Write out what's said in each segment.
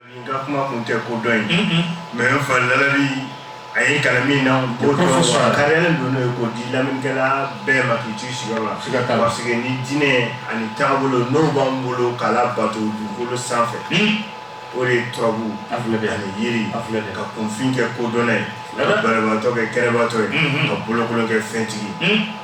N ka kuma kun tɛ kodɔn ye mais n fa Lalabi a ye n kalan min na o dɔ n karilen don n'o ye k'o di lamɛnnikɛla bɛɛ ma k'i to i sigiyɔrɔ la parce que ni diinɛ ani taabolo n'o b'an bolo k'a labato dugukolo sanfɛ o de ye turabu a filɛ dɛ ani yiri a filɛ dɛ ka kunfin kɛ kodɔnna ye ka banabatɔ kɛ kɛnɛbatɔ ye ka bolokolon kɛ fɛntigi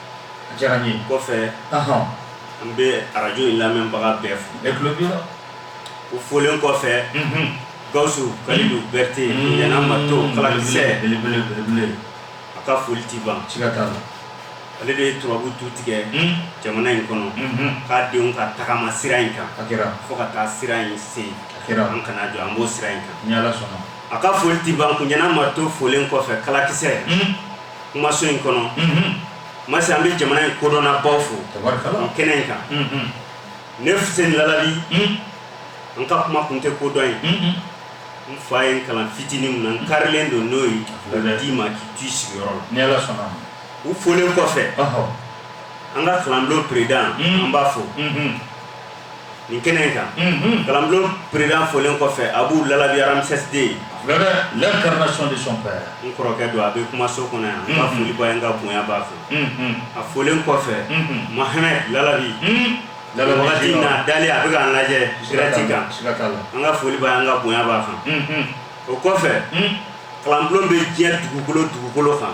Diyara n ye kɔfɛ an bɛ arajo in lamɛnbaga bɛɛ fo bɛɛ tulo b'i la o folen kɔfɛ Gawusu Kalilu Bɛrite Kuɲana Mato kalakisɛ belebele a ka foli tɛ ban siga t'a la ale de ye turabu tu tigɛ jamana in kɔnɔ k'a denw ka tagama sira in kan a kɛra fo ka taa sira in se a kɛra an kana jɔ an b'o sira in kan ni Ala sɔnna a ka foli tɛ ban Kuɲana Mato folen kɔfɛ kalakisɛ. kumaso in kɔnɔ Masi an bɛ jamana in kodɔnnabaw fo kɛnɛ in kan ne Fuseni Lalabi an ka kuma kun tɛ kodɔn ye n fa ye n kalan fitinin min na n karilen don n'o ye d'i ma k'i t'i sigiyɔrɔ la u folen kɔfɛ an ka kalanbulon président an b'a fo nin kɛnɛ in kan kalanbulon président folen kɔfɛ Abu Lalabi Ramses den l'incarnation de son père n kɔrɔkɛ don a bɛ kumaso kɔnɔ yan n ka foli b'a ye n ka bonya b'a fɛ a folen kɔfɛ Mohamed Lalabi wagati in na a dalen a bɛ k'an lajɛ sirati kan an ka foli b'a ye an ka bonya b'a kan o kɔfɛ kalanbulon bɛ diɲɛ dugukolo dugukolo kan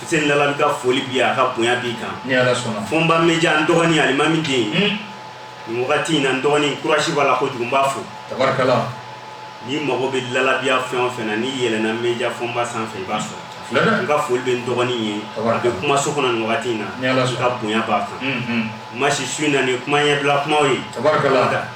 Fuseni Lalabi ka foli b'i ye a ka bonya b'i kan ni Ala sɔnna Fɔnba Media n dɔgɔnin alimami den nin wagati in na n dɔgɔnin courage b'a la kojugu n b'a fo tabarikala n'i mago bɛ Lalabiya fɛn o fɛn na n'i yɛlɛnna Media Fɔnba sanfɛ i b'a sɔrɔ a filɛ dɛ n ka foli bɛ n dɔgɔnin ye a bɛ kumaso kɔnɔ nin wagati in na ni Ala sɔnna n ka bonya b'a kan Masi su in na nin ye kuma ɲɛbila kumaw ye tabarikala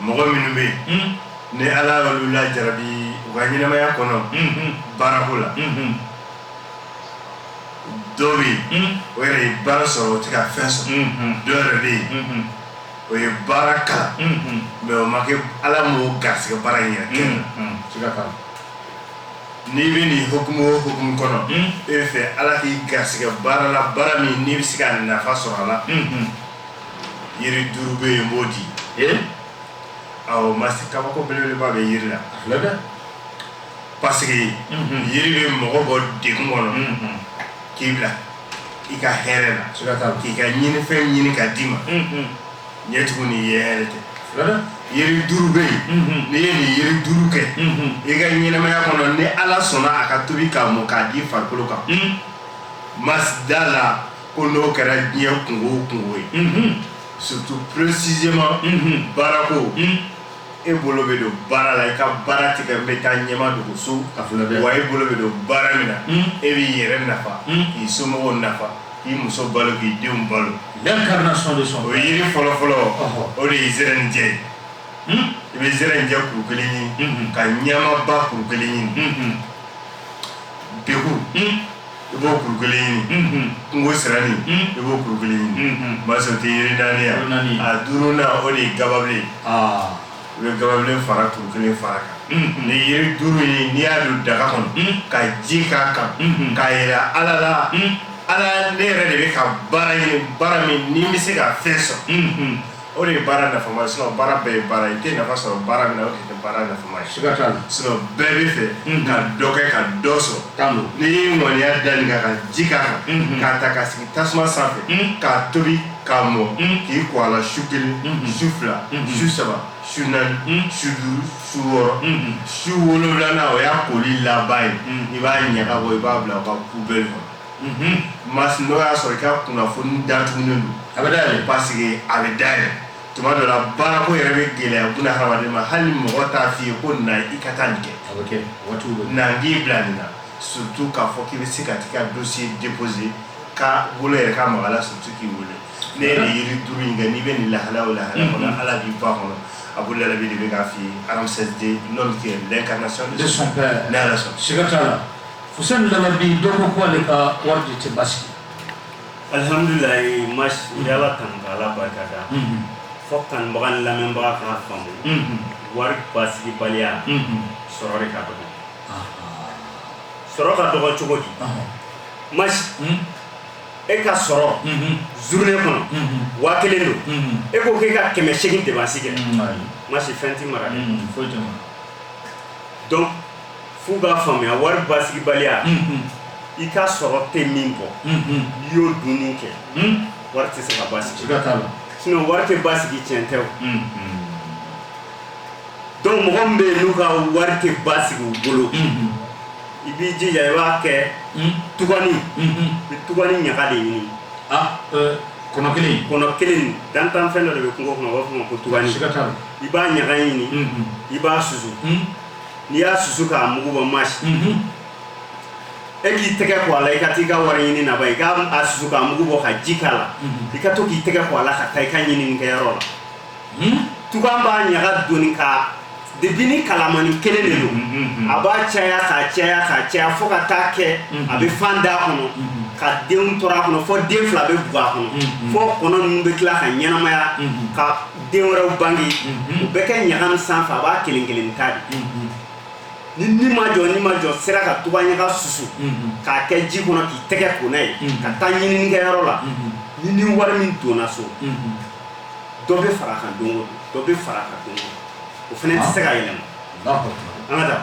mɔgɔ minnu bɛ yen ni ala y'olu lajarabi u ka ɲɛnamaya kɔnɔ baarako la dɔ bɛ yen o yɛrɛ ye baara sɔrɔ o tɛ ka fɛn sɔrɔ dɔ yɛrɛ bɛ yen o ye baara kalan mais o ma kɛ ala m'o garisɛgɛ baara in yɛrɛ kɛ n'i bɛ nin hukumu o hukumu kɔnɔ e bɛ fɛ ala k'i garisɛgɛ baara la baara min n'i bɛ se ka nafa sɔrɔ a la yiri duuru bɛ yen n b'o di awɔ Masi kabako belebeleba bɛ yiri la parce que yiri bɛ mɔgɔ bɔ degun kɔnɔ k'i bila i ka hɛrɛ la k'i ka ɲinifɛn ɲini k'a d'i ma ɲɛtugu ni ɲɛyɛlɛ cɛ yiri duuru bɛ yen n'i ye nin yiri duuru kɛ i ka ɲɛnamaya kɔnɔ ni ala sɔnna a ka tobi k'a mɔ k'a di farikolo kan Masi da la ko n'o kɛra diɲɛ kunko o kunko ye, unhun, surtout précisément unhun, baara ko, un, e bolo bɛ don baara la i ka baara tigɛ n bɛ taa ɲɛma dogo so, a filɛ dɛ, wa e bolo bɛ don baara min na, un, e b'i yɛrɛ nafa, un, k'i somɔgɔw nafa, k'i muso balo k'i denw balo, l'incarnation de son père, o yiri fɔlɔ fɔlɔ, ɔhɔ, o de ye zɛrɛnijɛ ye, un, i bɛ zɛrɛnijɛ kuru kelen ɲini, unhun, ka ɲamaba kuru kelen ɲini, unhun, degun, un i b'o kuru kelen ɲini kungo sirani i b'o kuru kelen ɲini masi o tɛ yiri naani ye a duurunan o de ye gababilen i bɛ gababilen fara kuru kelen fara kan nin yiri duuru in n'i y'a don daga kɔnɔ ka ji k'a kan k'a yira ala la ala ne yɛrɛ de bɛ ka baara ɲini baara min ni n bɛ se ka fɛn sɔrɔ O de ye baara nafama ye sinon baara bɛɛ ye baara ye i tɛ nafa sɔrɔ baara min na o de tɛ baara nafama ye sinon bɛɛ bɛ fɛ ka dɔ kɛ ka dɔ sɔrɔ n'i ye ŋaniya da nin kan ka ji k'a kan k'a ta ka sigi tasuma sanfɛ k'a tobi k'a mɔ k'i ko a la su kelen su fila su saba su naani su duuru su wɔɔrɔ su wolonwulanan o y'a koli laban ye i b'a ɲaga bɔ i b'a bila o ka poubelle masi n'o y'a sɔrɔ i ka kunnafoni datugulen don parce que a bɛ dayɛlɛ tuma dɔ la baarako yɛrɛ bɛ gɛlɛya buna hadamaden ma hali mɔgɔ t'a f'i ye ko na i ka taa nin kɛ na n k'i bila nin na surtout k'a fɔ k'i bɛ se ka t'i ka dossier déposer ka bolo yɛrɛ ka maga a la surtout k'i weele n'i ye nin yiri duuru in kɛ n'i bɛ nin lahala la kɔnɔ ala b'i bɔ a kɔnɔ Abu Labi de bɛ k'a f'i ye Ramsès l'homme qui est l'incarnation ne ala sɔn Fuseni Labi dɔ ko ko ale ka wari de tɛ basigi alihamdulilayi masi n b'ala tanu k'ala barika da fo kanubaga lamɛnbaga k'a faamu wari basigibaliya sɔrɔ de ka dɔgɔ sɔrɔ ka dɔgɔ cogo di masi e ka sɔrɔ journée kɔnɔ waa kelen don e ko k'i ka kɛmɛ segin dépense kɛ masi fɛn tɛ mara dɛ f'u k'a faamuya wari basigibaliya i ka sɔrɔ tɛ min bɔ i y'o dunni kɛ wari tɛ se ka basigi sinon wari tɛ basigi tiɲɛ tɛ o donc mɔgɔ min bɛ yen n'u ka wari tɛ basigi u bolo i b'i jija i b'a kɛ tugani i bɛ tugani ɲaga de ɲini kɔnɔ kelen kɔnɔ kelen dantanfɛn dɔ de bɛ kungo kɔnɔ u b'a fɔ o ma ko tugani i b'a ɲaga ɲini i b'a susu n'i y'a susu k'a mugu bɔ masi e k'i tɛgɛ ko a la i ka taa i ka wari ɲini na ba i ka a susu k'a mugu bɔ ka ji k'a la i ka to k'i tɛgɛ ko a la ka taa i ka ɲininikɛyɔrɔ la hmm? tugan b'a ɲaga doni ka depuis ni kalamani kelen de don hmm, hmm, a b'a caya k'a caya k'a caya fo ka taa kɛ a bɛ fan da kɔnɔ ka denw tɔrɔ a kɔnɔ fo den fila bɛ bugu a kɔnɔ fo kɔnɔ ninnu bɛ tila ka ɲɛnamaya ka den wɛrɛw bange o bɛ kɛ ɲaga min sanfɛ a b'a kelen kelen ta de ni ni ma jɔ ni ma jɔ sera ka tugan ɲaga susu k'a kɛ ji kɔnɔ k'i tɛgɛ ko n'a ye ka taa ɲininikɛyɔrɔ la ni ni wari min donna so dɔ bɛ fara kan don o don dɔ bɛ fara kan don o don o fana tɛ se ka yɛlɛma an ka taa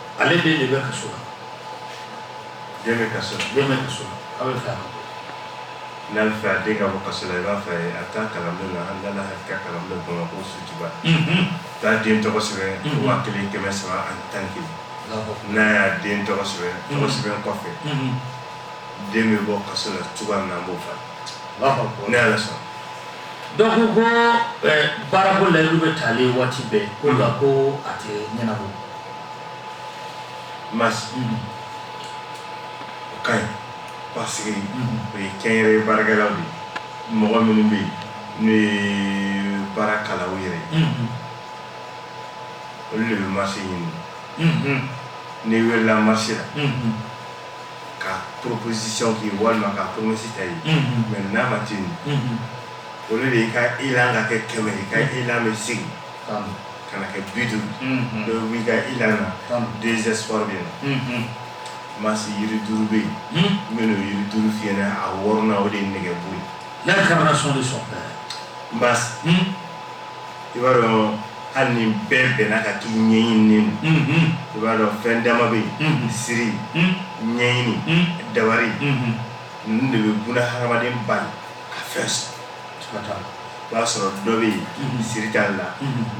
Ale den de bɛ kaso la den bɛ kaso la den bɛ kaso la a b'a fɛ a ka bɔ n'a b'a fɛ a den ka bɔ kaso la i b'a f'a ye a taa kalanbolo la an dala a ka kalanbolo kɔnɔ ko sutuba taa den tɔgɔ sɛbɛn waa kelen kɛmɛ saba ani tan kelen n'a y'a den tɔgɔ sɛbɛn tɔgɔ sɛbɛn kɔfɛ den bɛ bɔ kaso la cogoya min na an b'o fɔ ni Ala sɔnna donc ko baarako layidu bɛ taalen waati bɛɛ ko la ko a tɛ ɲɛnabɔ masi o ka ɲi parce que o ye kɛnyɛrɛye baarakɛlaw de ye mɔgɔ minnu bɛ yen n'o ye baara kɛ la u yɛrɛ ye olu de bɛ marché ɲini n'i welela marché la ka proposition k'i ye walima ka promesse ta i ye mais n'a ma tenu olu de ka élan ka kɛ kɛmɛ i ka élan bɛ sigi ka na kɛ bi duuru dɔ b'i ka élan na désespoir bɛ na masi yiri duuru bɛ yen n bɛ yiri duuru f'i ye n'a wɔɔrɔnan o de ye nɛgɛbo ye l'incarnation de son père masi i b'a dɔn hali ni bɛɛ bɛnna a kan k'i ɲɛɲini i b'a dɔn fɛn dama bɛ yen siri ɲɛɲini dabari ninnu de bɛ buna hadamaden bali ka fɛn sɔrɔ i b'a sɔrɔ dɔ bɛ yen siri t'a la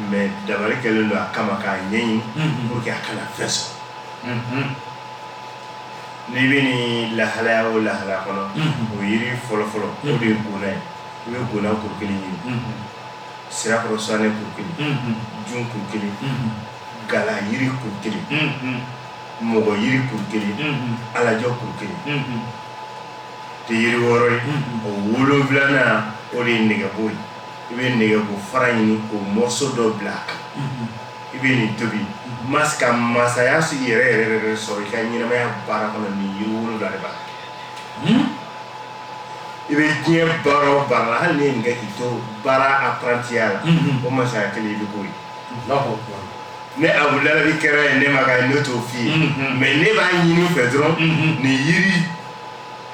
mais dabari kɛlen don a kama k'a ɲɛɲini pour que a kana fɛn sɔrɔ n'i bɛ nin lahalaya o lahalaya kɔnɔ o yiri fɔlɔfɔlɔ o de ye gona ye i bɛ gona kuru kelen ɲini sirakɔrɔ suwanɛ kuru kelen jun kuru kelen gala yiri kuru kelen mɔgɔ yiri kuru kelen alajɔ kuru kelen tɛ yiri wɔɔrɔ ye o wolonwulanan o de ye nɛgɛbo ye i bɛ nɛgɛbo fara ɲini k'o morceau dɔ bila a kan i bɛ nin tobi Masi ka masaya sigi yɛrɛ yɛrɛ yɛrɛ sɔrɔ i ka ɲɛnamaya baara kɔnɔ nin yiri wolonwula de b'a i bɛ diɲɛ baara o baara la hali n'i ye nin kɛ k'i to baara apprentiya la o masaya kelen i bɛ bɔ yen ne a wulilalabi kɛra ye ne ma ye ne t'o f'i ye mais ne b'a ɲini i fɛ dɔrɔn nin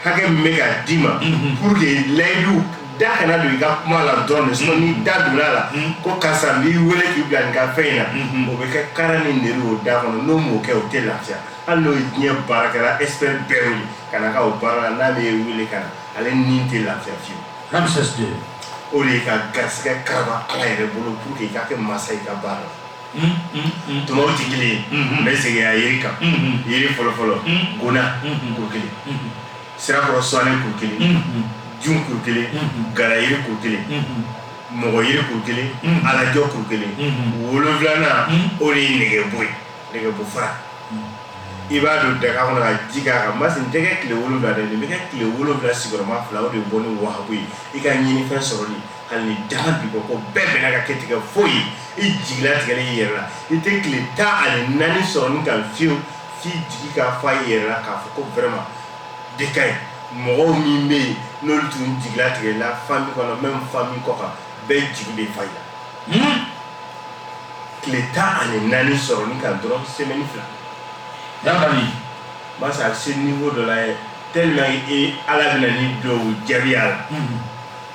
hakɛ min bɛ ka d'i ma pour que layidu da kana don i ka kuma la dɔrɔn de sinon n'i da donna a la ko karisa n b'i wele k'i bila nin ka fɛn in na o bɛ kɛ kara ni nɛri o da kɔnɔ n'o m'o kɛ o tɛ lafiya hali n'o ye diɲɛ baarakɛla expert bɛɛ wele ka na k'a o baara la n'a bɛ wele ka na ale ni tɛ lafiya fiyewu o de ye ka garisigɛ karaba Ala yɛrɛ bolo pour que i ka kɛ masa ye i ka baara la tuma o tɛ kelen ye n bɛ segin a yiri kan yiri fɔlɔfɔlɔ gona kuru kelen sirakɔrɔ sɔni kuru kelen jun kuru kelen galayiri kuru kelen mɔgɔ yiri kuru kelen alajɔ kuru kelen wolonfilanan o de ye nɛgɛbo ye nɛgɛbo fara i b'a don daga kɔnɔ ka ji k'a kan Masi nin tɛ kɛ tile wolonwula dɛ nin bɛ kɛ tile wolonwula sigiyɔrɔma fila o de bɔ ni waga ye i ka ɲinifɛn sɔrɔ Hali ni danga b'i kɔ bɛɛ bɛnna a kan k'i tɛ kɛ foyi ye i jigi latigɛlen i yɛrɛ la i tɛ tile tan ani naani sɔrɔ nin kan fiyewu f'i jigi ka fa i yɛrɛ la k'a fɔ ko vraiment de ka ɲi mɔgɔw min bɛ yen n'olu tun jigi latigɛla famille kɔnɔ même famille kɔkan bɛɛ jigi bɛ fa i la hmm? tile tan ani naani sɔrɔ nin kan dɔrɔn semaine fila dabali masa a se niveau dɔ la ye tellement e Ala bɛna ni don jaya la hmm.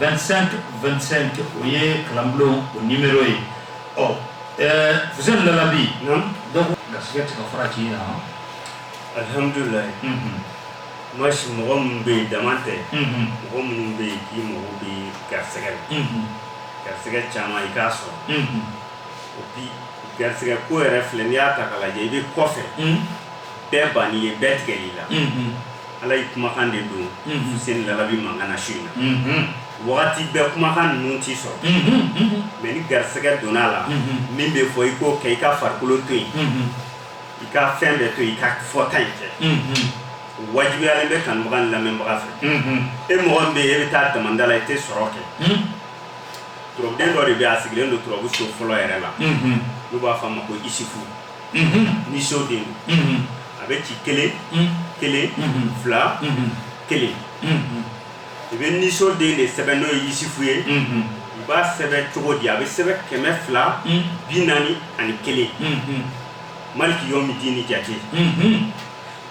vingt-cinq vingt-cinq o ye kalanbulon o numéro ye ɔ ɛɛ Fuseni Lalabi, naamu, donc garisigɛ tɛ ka fara cɛ in na wa? Alihamidulilahi, unhun, Masi mɔgɔ minnu bɛ yen dama tɛ, unhun, mɔgɔ minnu bɛ yen k'i mago bɛ garisigɛ la, unhun, garisigɛ caman i k'a sɔrɔ, unhun, et puis garisigɛ ko yɛrɛ filɛ n'i y'a ta k'a lajɛ i bɛ kɔfɛ, un, bɛɛ banni ye bɛɛ tigɛli la, unhun Ala ye kumakan de don Fuseni Lalabi man kan ka na su in na waati bɛɛ kumakan ninnu t'i sɔrɔ mais ni garisɛgɛ donna a la min bɛ fɔ i k'o kɛ i ka farikolo to yen i ka fɛn bɛɛ to yen i ka fɔta in kɛ wajibiyalen bɛ kanubaga ni lamɛnbaga fɛ e mɔgɔ min bɛ yen e bɛ taa damanda la i tɛ sɔrɔ kɛ turabuden dɔ de bɛ a sigilen don turabu so fɔlɔ yɛrɛ la n'u b'a fɔ a ma ko Isufu nisoden don a bɛ ci kelen kelen fila kelen i bɛ nisoden de sɛbɛn n'o ye isufu ye i b'a sɛbɛn cogo di a bɛ sɛbɛn kɛmɛ fila bi naani ani kelen maliki yɔmi dini jate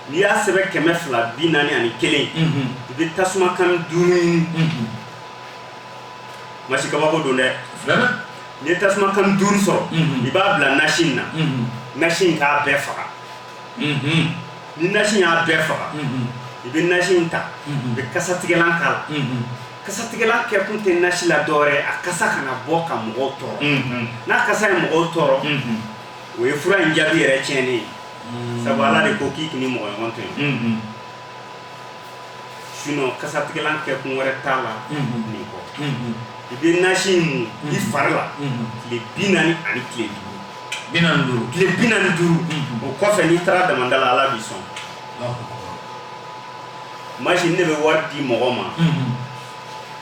n'i y'a sɛbɛn kɛmɛ fila bi naani ani kelen i bɛ tasuma kan duuru Masi kabako don dɛ n'i ye tasuma kan duuru sɔrɔ i b'a bila nasi in na nasi in k'a bɛɛ faga ni nasi y'a bɛɛ faga i bɛ nasi in ta i bɛ kasatigɛlan k'a la kasatigɛlan kɛ kun tɛ nasi la dɔwɛrɛ a kasa kana bɔ ka mɔgɔw tɔɔrɔ n'a kasa ye mɔgɔw tɔɔrɔ o ye fura in jaabi yɛrɛ tiɲɛnen ye sabu ala de ko k'i to i mɔgɔ ɲɔgɔn to ye sinon kasatigɛlan kɛ kun wɛrɛ t'a la nin kɔ i bɛ nasi in mun i fari la tile bi naani ani duuru tile bi naani duuru o kɔfɛ n'i taara damanda la ala b'i sɔn masi ne bɛ wari di mɔgɔ ma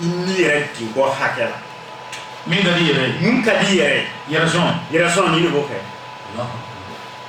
i ni yɛrɛ dungɔ hakɛ la min ka di yɛrɛ ye mun ka di yɛrɛ ye yɛrɛsɔn ni ne b'o kɛ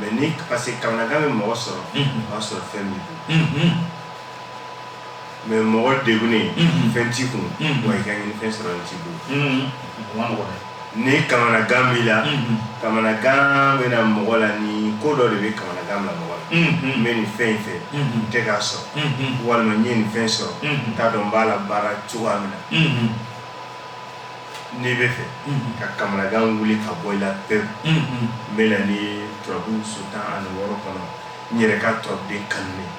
Mais ni parce que kamanagan bɛ mɔgɔ sɔrɔ. Unhun. O b'a sɔrɔ fɛn b'i kun. Unhun. Mais mɔgɔ degunnen. Unhun. Fɛn t'i kun. Unhun. Wa i ka ɲinifɛn sɔrɔli t'i bolo. Unhun. O man nɔgɔn dɛ. Ni kamanagan b'i la. Unhun. Kamanagan bɛ na mɔgɔ la ni ko dɔ de bɛ kamanagan bila mɔgɔ la. Unhun. N bɛ nin fɛn in fɛ. Unhun. N tɛ k'a sɔrɔ. Unhun. Walima n ye nin fɛn sɔrɔ. Unhun. N t'a dɔn n b'a labaara cogoya min na. Unhun. N'i bɛ fɛ ka kamanagan wuli ka bɔ i la pewu n bɛ na ni turabu so tan ani wɔɔrɔ kɔnɔ n yɛrɛ ka turabuden kanunen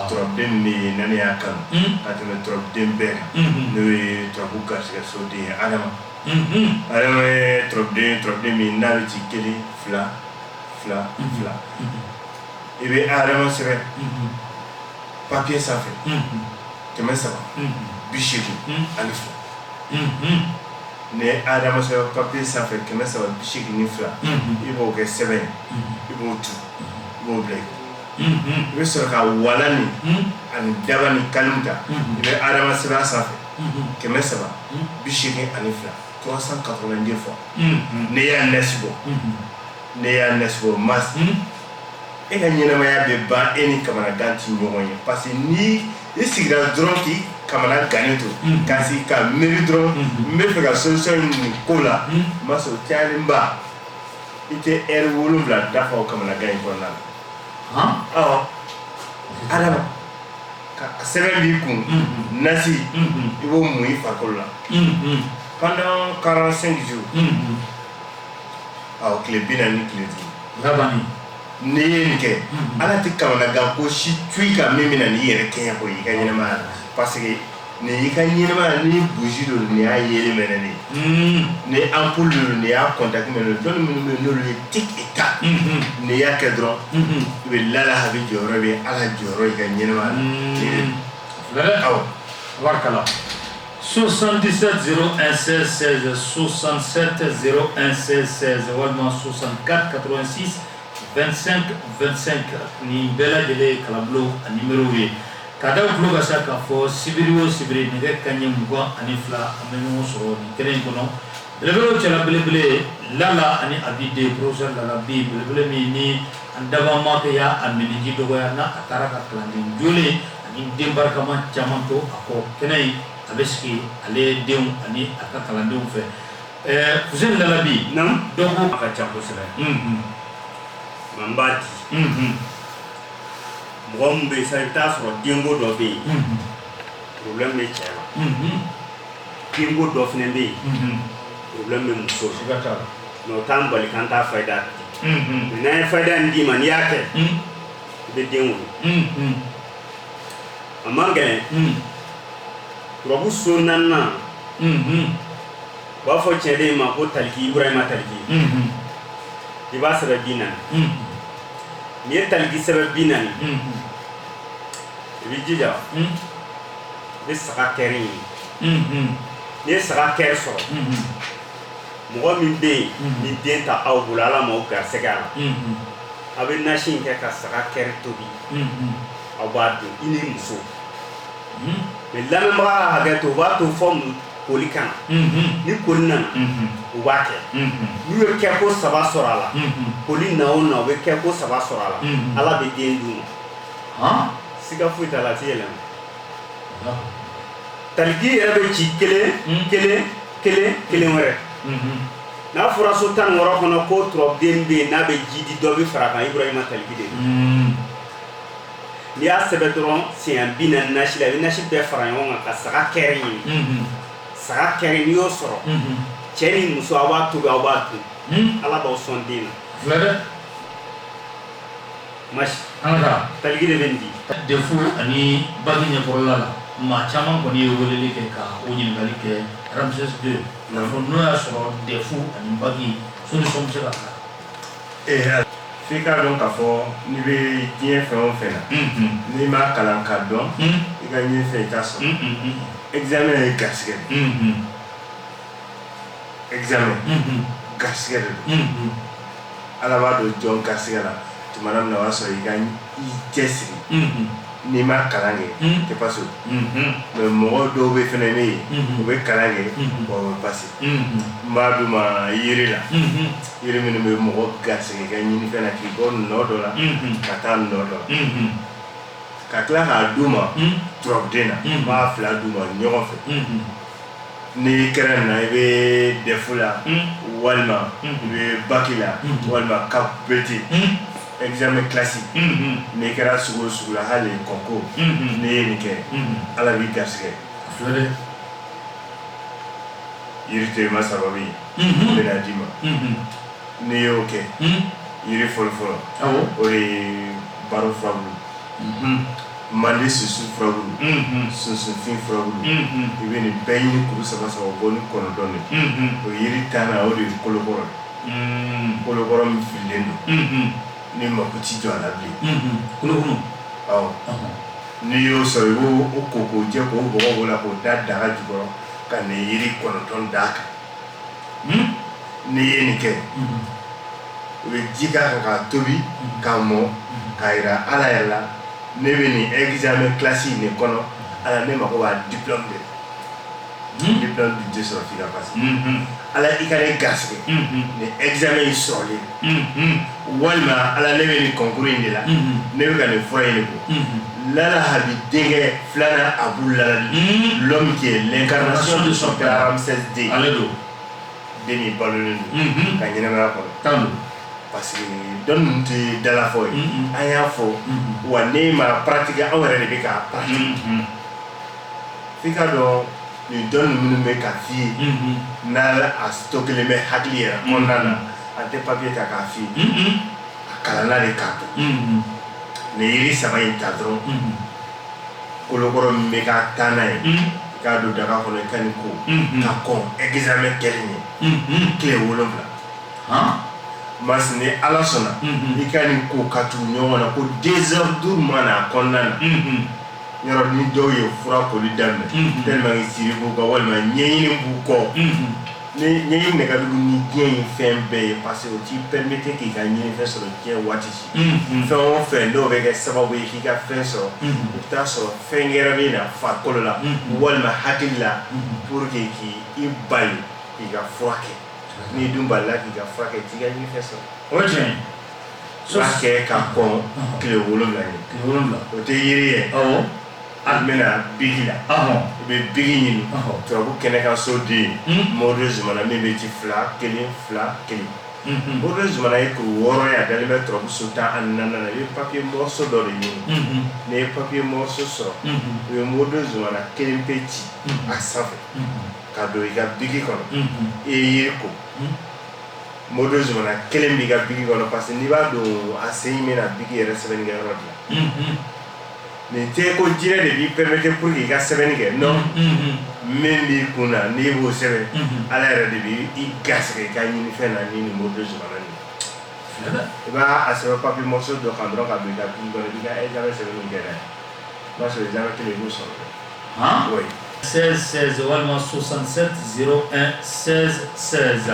turabuden min bɛ yen na ne y'a kanu ka tɛmɛ turabuden bɛɛ kan n'o ye turabu garisɛgɛsoden ye adama adama ye turabuden min n'a bɛ ci kelen fila fila fila i bɛ adama sɛbɛn papier sanfɛ kɛmɛ saba bi segin ani fila n'i ye adama sɛbɛn papier sanfɛ 382 i b'o kɛ sɛbɛn i b'o tu i b'o bila i bɛ sɔrɔ ka walannin ani daba ni kalimu ta i bɛ adama sɛbɛn sanfɛ 382 382 fois n'i y'a nasi bɔ n'i y'a nasi bɔ masi e ka ɲɛnamaya bɛ ban e ni kamanagan ti ɲɔgɔn ye parce que ni i sigira dɔrɔn k'i kamanagannen to mm. ka sigi ka miiri dɔrɔn mm-hmm. n bɛ fɛ ka solution ɲini ko la mm. n b'a sɔrɔ cayalenba i tɛ ɛri wolonwula dafa o kamanagan in kɔnɔna la ɔwɔ adama ka sɛbɛn b'i kun mm-hmm. nasi mm-hmm. i b'o mun i farikolo la pendant 45 jours tile bi naani ni tile duuru n'i ye nin kɛ mm-hmm. ala tɛ kamanagan ko si to i kan min bɛ na n'i yɛrɛ kɛɲɛ ko i ka ɲɛnamaya la parce que nin y'i ka ɲɛnamaya ni buji don nin y'a yeelen mɛnɛ de ye mm-hmm. ni ampoule don nin y'a contact mɛnɛ ne dɔnni minnu bɛ yen n'olu ye tic et tac mm-hmm. n'i y'a kɛ dɔrɔn i bɛ lala habi jɔyɔrɔ bɛ ala jɔyɔrɔ i ka ɲɛnamaya la awɔ tabarikala Sonsandisa z sɛsɛ sonsansɛ tɛ z an sɛ sɛsɛ walima sonsan ka katsi fɛnsɛ2sɛn nin bɛɛ lajɛlen ye kalanbulon ani moriw ye ka da tulo ka sa k ka fɔ sibiri o sibiri nɛgɛ ka ɲɛ mugan ani fila an bɛ ɲɔgɔn sɔrɔ ni kelen in kɔnɔ bɛɛelew cɛla belebele lala ani a bɛ den poroze la bi belebele min ni an dabama tɛ y'a a miniji dɔgɔya n' a taara ka kalandenj Ani den barikama caman to a kɔ kɛnɛ in a bɛ sigi ale denw ani a ka kalandenw fɛ fuseni lalabi denko a ka ca kosɛbɛ mais an b'a di mɔgɔ min bɛ yen sa i bɛ t'a sɔrɔ denko dɔ bɛ yen problème bɛ cɛ la denko dɔ fana bɛ yen problème bɛ muso la mais o t'an bali k'an t'a fayida di mais n'an ye fayida in d'i ma n'i y'a kɛ i bɛ den wolo a man gɛlɛn turabu so naaninan u b'a fɔ cɛden ma ko taliki iburahima taliki i b'a sɛbɛn bi naani n'i ye taliki sɛbɛn bi naani i b'i jija i bɛ saga kɛri ɲini n'i ye saga kɛri sɔrɔ mɔgɔ min bɛ yen ni den t'aw bolo ala m'aw garisɛgɛ a la aw bɛ nasi in kɛ ka saga kɛri tobi aw b'a dun i ni muso mais lamɛnbaga ka hakɛ to u b'a to fo koli ka na ni koli nana u b'a kɛ n'u ye kɛko saba sɔrɔ a la koli na o na u bɛ kɛko saba sɔrɔ a la ala bɛ den d'u ma siga foyi t'a la a tɛ yɛlɛma taliki yɛrɛ bɛ ci kelen hmm. kelen kelen kelen wɛrɛ hmm. n'a fɔra so tan ni wɔɔrɔ kɔnɔ ko turabuden bɛ yen n'a bɛ jiidi dɔ bɛ fara a kan ibrahima taliki de don hmm. n'i y'a sɛbɛn dɔrɔn siɲɛ bi naani nasi la i bɛ nasi bɛɛ fara ɲɔgɔn kan ka saga kɛri ɲini saga kɛri n'i y'o sɔrɔ cɛ ni muso aw b'a tobi aw b'a dun ala b'aw sɔn den na. Mais taliki de bɛ den di DEF ani bac ɲɛkɔrɔla la maa caman kɔni ye weleli kɛ ka o ɲininkali kɛ ramses deux n'a fɔ n'o y'a sɔrɔ DEF ani bac solution bɛ se ka taa f'i k'a dɔn k'a fɔ n'i bɛ diɲɛ fɛn o fɛn na n'i m'a kalan k'a dɔn i ka ɲɛ fɛ i t'a sɔrɔ examen ye garisɛgɛ examen unhun garisigɛ de don unhun Ala b'a don jɔn garisigɛ la tumana min na o y'a sɔrɔ i ka i cɛsiri unhun n'i ma kalan kɛ unhun tɛ passer unhun mais mɔgɔ dɔw bɛ fɛnɛ bɛ yen unhun u bɛ kalan kɛ unhun bon u bɛ passer unhun n b'a d'u ma yiri la unhun yiri minnu bɛ mɔgɔ garisigɛ i ka ɲinifɛn na k'i bɔ nɔ dɔ la unhun ka taa nɔ dɔ la unhun ka tila k'a d'u ma unhun turabuden na n b'a fila d'u ma ɲɔgɔn fɛ unhun Ni kɛra na i bɛ dɛfu la walima i bɛ baki la walima CAP BT examen classique n'i kɛra sugu o sugu la hali concours n'i ye nin kɛ ala b'i garisɛgɛ yiri tɛ ma sababu ye bɛna d'i ma n'i y'o kɛ yiri fɔlɔfɔlɔ o de ye baro furabulu mande sunsun furabulu sunsunfin furabulu i bɛ nin bɛɛ ɲini kuru saba saba o bɔ ni kɔnɔntɔn de o yiri tannan o de ye kolokɔrɔ kolokɔrɔ min fililen don ni mako ti jɔ a la bilen kolokɔrɔ n'i y'o sɔrɔ i b'o ko k'o jɛ k'o bɔgɔ b'o la k'o da daga jukɔrɔ ka nin yiri kɔnɔntɔn d'a kan n ye nin kɛ u bɛ ji ka ka tobi k'a mɔ k'a jira ala yɛrɛ la ne bɛ nin ekiz bɛ kilasi de kɔnɔ ala ne mako b'a di dɔ kɛ sɔrɔ' ka ala i ka ne ga ni ezsame in sɔrɔlen walima ala ne bɛ nin concours in de la ne bɛ ka nin fura in de bɔ lala habi denkɛ filanan Abu Lalali l'homme qui est l'incarnation de son père Ramsès deux ale don den in balolen don ka ɲɛnamaya kɔnɔ tan don parce que dɔn ninnu tɛ dalafɔ ye an y'a fɔ wa ne ma pratiquer anw yɛrɛ de bɛ k'a pratiquer f'i k'a dɔn nin dɔn ninnu bɛ ka f'i ye n'a a stockélen bɛ hakili yɛrɛ kɔnɔna na an tɛ papiye ta k'a f'i ye a kalanna de k'a to nin yiri saba in ta dɔrɔn kolokɔrɔ min bɛ k'a tannan ye i k'a don daga kɔnɔ i ka nin ko ka kɔn examen kɛli ɲɛ tile wolonwula mas ni ala sɔnna i ka nin ko ka tugu ɲɔgɔn na ko denz duuru mana na a kɔnɔna na yɔrɔ ni dɔw ye fura koli daminɛ unhun tellement que siri b'u kan walima ɲɛɲini b'u kɔ unhun ni ɲɛɲini de ka jugu ni diɲɛ in fɛn bɛɛ ye parce que o t'i permettre k'i ka ɲininfɛn sɔrɔ diɲɛ waati si unhun fɛn o fɛn n'o bɛ kɛ sababu ye k'i ka fɛn sɔrɔ unhun i bɛ taa sɔrɔ fɛn wɛrɛ bɛ na farikolo la unhun walima hakili la unhun pour que k'i i bali k'i ka fura kɛ n'i dun balila k'i ka fura kɛ i t'i ka ɲininfɛn sɔrɔ o ye tiɲɛ ye A kɛ ka kɔn tile wolonwula ye o tɛ yiri ye an bɛna biki la i bɛ biki ɲini turabu kɛnɛ kan so den mori zumana min bɛ ci fila kelen fila kelen mori zumana ye kuru wɔɔrɔ ye a dalen bɛ turabu so tan ani naani na i bɛ papier morceau dɔ de ɲini n'i ye papier morceau sɔrɔ i bɛ mori zumana kelen pe ci a sanfɛ ka don i ka biki kɔnɔ i ye yiri ko Mori z kelen b'i ka bi kɔnɔ parce que n'i b'a don a se in bɛna bi yɛrɛ sɛbɛn kɛ yɔrɔ de nin tɛ ko j de b'i bɛnbɛn kɛ kuru' i ka sɛbɛnni kɛ nɔ min b'i kun na n'i b'o sɛbɛn ala yɛrɛ de b' i gasɛ i ka ɲini fɛn na ni mɔ z i b'a a sɛbɛn papi mɔ dɔ ka dɔrɔn ka' i ka i ka sɛbɛn kɛ dɛ O b'a sɔrɔ examen kelen i b'o sɔrɔ seize seize walima soixante-sept zéro un seize seize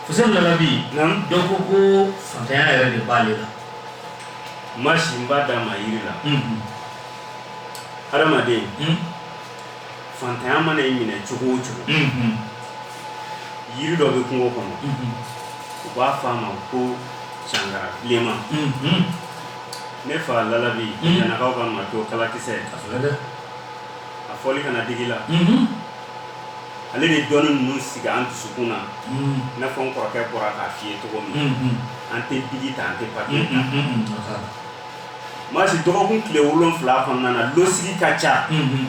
Fuseni Lalabi dɔ ko ko faantanya yɛrɛ de b'ale la Masi n b'a d'a ma yiri la hadamaden faantanya mana i minɛ cogo o cogo yiri dɔ bɛ kungo kɔnɔ u b'a fɔ a ma ko cangara bilenman Ne fa Lalabi Ɲanakaw ka ma to kalakisɛ a fɔli kana digi i la ale de dɔnni ninnu sigi an dusukun na i n'a fɔ n kɔrɔkɛ bɔra k'a f'i ye cogo min an tɛ biki ta an tɛ papier ta Masi dɔgɔkun tile wolonwula kɔnɔna na donsigi ka ca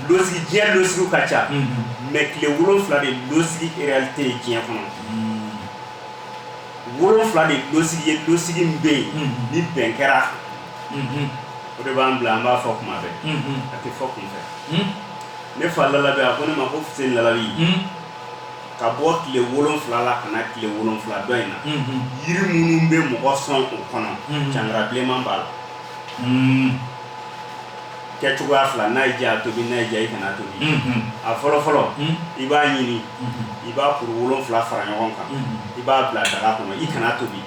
donsigi diɲɛ donsigiw ka ca mais tile wolonwula de donsigi réalité ye diɲɛ kɔnɔ wolonwula de donsigi ye donsigi min bɛ yen ni bɛn kɛra o de b'an bila an b'a fɔ kuma bɛɛ a tɛ fɔ kunfɛ ne fa Lalabi a ko ne ma ko Fuseni Lalabi ka bɔ tile wolonwula la ka na tile wolonwula dɔ in na yiri minnu bɛ mɔgɔ sɔn o kɔnɔ cangara bilenman b'a la kɛcogoya fila n'a y'i diya a tobi n'a y'i diya i kana tobi a fɔlɔ fɔlɔ i b'a ɲini i b'a kuru wolonwula fara ɲɔgɔn kan i b'a bila daga kɔnɔ i kana tobi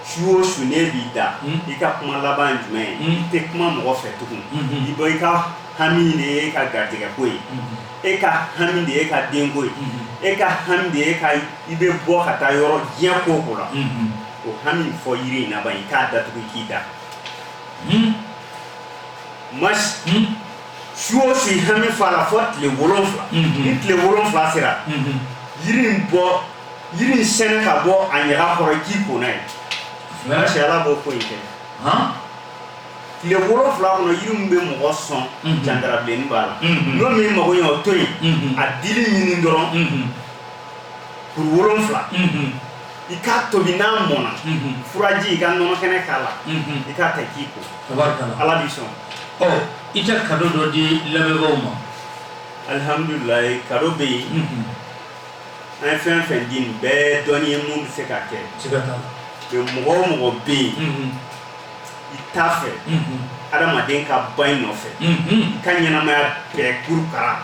su o su n'i b'i da i ka kuma laban jumɛn ye i tɛ kuma mɔgɔ fɛ tugun i bɔ i ka hami de ye e ka garijɛgɛko ye e ka hami de ye e ka denko ye e ka hami de ye e ka i bɛ bɔ ka taa yɔrɔ diɲɛ ko o ko la o hami fɔ yiri in na ban i k'a datugu k'i da Masi su o su i hami f'a la fo tile wolonwula ni tile wolonwula sera yiri in bɔ yiri in sɛnɛ ka bɔ a ɲaga kɔrɔ ji ko n'a ye inshallah b'o ko in kɛ tile wolonwula kɔnɔ yiri min bɛ mɔgɔ sɔn cangara bilennin b'a la n'o m'i mago ɲɛ o to yen a dili ɲini dɔrɔn kuru wolonfila i k'a tobi n'a mɔna furaji i ka nɔnɔ kɛnɛ k'a la i k'a ta k'i ko ala b'i sɔn ɔ i tɛ kado dɔ di lamɛnbaaw ma alihamdulilayi kado bɛ yen an ye fɛn fɛn di nin bɛɛ dɔnni ye mun bɛ se ka kɛ mɛ mɔgɔ o mɔgɔ bɛ yen i t'a fɛ adamaden ka ba i nɔfɛ i ka ɲɛnamaya bɛɛ korokara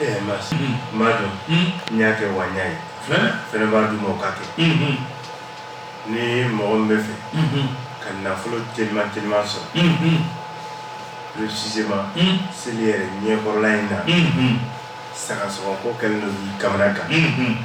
Ɛɛ n m'a dɔn n y'a kɛ wa ye fɛnɛ b'a di mɔgɔ k'a kɛ ni mɔgɔ b'a fɛ ka nafolo tellement tellement sɔrɔ précisément seli yɛrɛ ɲɛkɔrɔla in na saga sɔrɔ ko kɛlen don kamanagan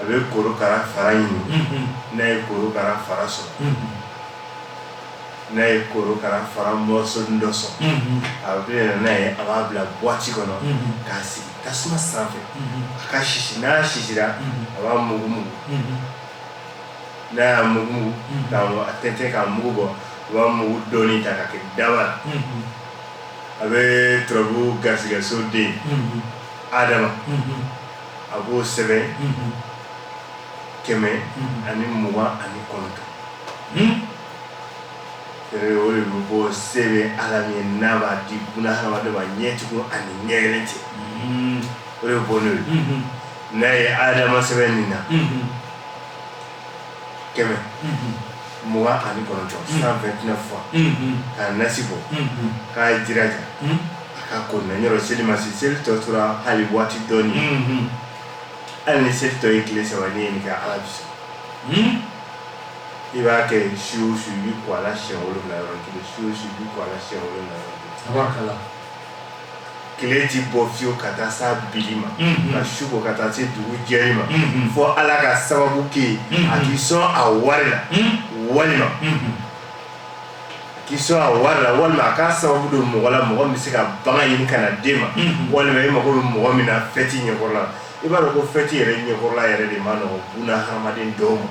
a bɛ korokara fara ɲini n'a ye korokara fara sɔrɔ n'a ye korokara fara morceau dɔ sɔrɔ après n'a ye a b'a bila buwati kɔnɔ k'a sigi tasuma sanfɛ a ka sisi n'a sisira a b'a mugumugu n'a y'a mugumugu k'a tɛntɛn k'a mugu bɔ a b'a mugu dɔɔnin ta k'a kɛ daba a bɛ turabu garisɛgɛso de adama a b'o sɛbɛn kɛmɛ ani mugan ani kɔnɔntɔn o de bɛ bɔ sɛbɛn ala ye n'a b'a di buna hadamaden ma ɲɛcogo ani ɲɛ cɛ o de bɛ bɔ n'o ye n'a ye adama sɛbɛn nin na kɛmɛ mugan ani kɔnɔntɔn cent vingt-neuf fois k'a nasi bɔ k'a jira a ka ko na yɔrɔ seli ma se seli tɔ tora hali waati dɔɔni hali ni seli tɔ ye tile saba ye nin kɛ ala b'i sɔn i b'a kɛ su o su i bɛ ko a la siɲɛ wolonwula yɔrɔ kelen su o su i bɛ ko a la siɲɛ wolonwula yɔrɔ tile tɛ bɔ fiyewu ka taa s'a binni ma ka su ko ka taa se dugu jɛli ma fo Ala ka sababu kɛ yen a k'i sɔn a wari la walima k'i sɔn a wari la walima a k'a sababu don mɔgɔ la mɔgɔ min bɛ se ka bagan ɲini ka na d'e ma walima e mago bɛ mɔgɔ min na fɛti ɲɛkɔrɔla i b'a dɔn ko fɛti yɛrɛ ɲɛkɔrɔla yɛrɛ de man nɔgɔn buna hadamaden dɔw ma.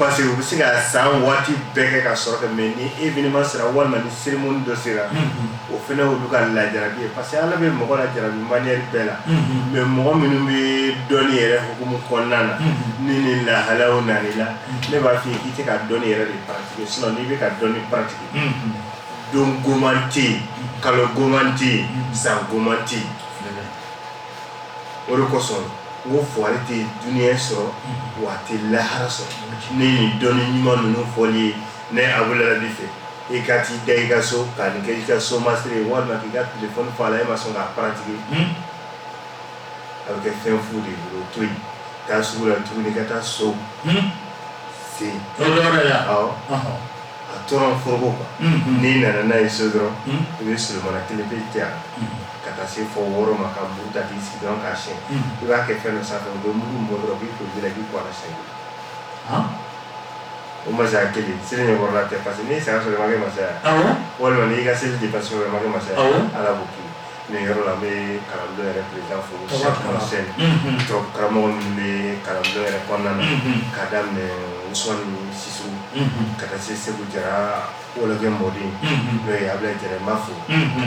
Parce que u bɛ se ka san waati bɛɛ kɛ ka sɔrɔ kɛ mɛ ni événement sera walima ni cérémonie dɔ sera o fana olu ka lajarabi ye parce que ala bɛ mɔgɔ lajarabi manière bɛɛ la mɛ mɔgɔ minnu bɛ dɔnni yɛrɛ hukumu kɔnɔna na ni nin lahalaw nani la ne b'a fɔ i tɛ ka dɔnni yɛrɛ de pratiquer sinon n'i bɛ ka dɔnni pratiquer don goman tɛ kalo goman tɛ san goman tɛ o de kosɔn n ko fugari tɛ dunuya sɔrɔ wa a tɛ lahara sɔrɔ n'e ye nin dɔnni ɲuman ninnu fɔli ye ne Abu Lalabi fɛ i ka t'i da i ka so ka nin kɛ i ka so masiri ye walima k'i ka telefɔni fa a la e ma sɔn k'a paratike a bɛ kɛ fɛn fu de ye o to yen taa sugu la tuguni i ka taa so sen awɔ. a tora forogo kan n'i nana n'a ye so dɔrɔn i bɛ solomana kelen bɛ tɛ yan ka taa se fo wɔɔrɔ ma ka muru ta k'i sigi dɔrɔn k'a siyɛn i b'a kɛ fɛn dɔ sanfɛ u bɛ muru bɔ dɔrɔn k'i ko jira k'i kɔnɔ sɛgɛn o masaya kelen seli ɲɛ wɔɔrɔ tɛ parce que n'i saya sɔrɔ i ma kɛ masaya walima n'i ka seli de parce que o ma kɛ masaya ala b'o k'i Ne yɔrɔ la bɛ karamɔgɔ yɛrɛ fo karamɔgɔ min bɛ karamɔgɔ yɛrɛ kɔnɔna na ka daminɛ siso ka se segu jara wakɛ mɔden n'o ye a bɛ jɛra n b'a fɔ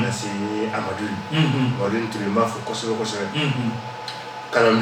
ka se amadu mɔ tun b'a fɔ kosɛbɛ kosɛbɛ kalan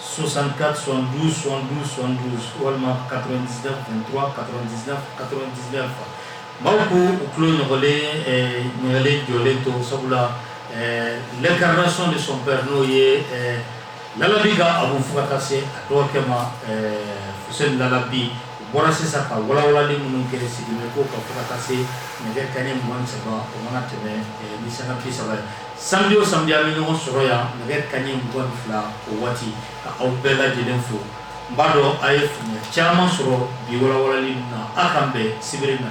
sosan ka son du son du son duuru walima ka kati maaw ko u tulo nɔgɔlenlen jɔlen to sabula lɛnkarason de son bɛɛ n'o ye labi ka a fo ka taa se a dɔgɔkɛ ma fusen labi u bɔra sisan ka wawalan minnu kɛ sigi ko ka fo ka taa se nɛgɛ ka ni mɔgɔ saba o mana tɛmɛ ni san bi saba ye Samedi o samedi an bɛ ɲɔgɔn sɔrɔ yan nɛgɛ kanɲɛ mugan ni fila o waati ka aw bɛɛ lajɛlen fo n b'a dɔn a ye faamuya caman sɔrɔ bi walawalali ninnu na a k'an bɛn sibiri na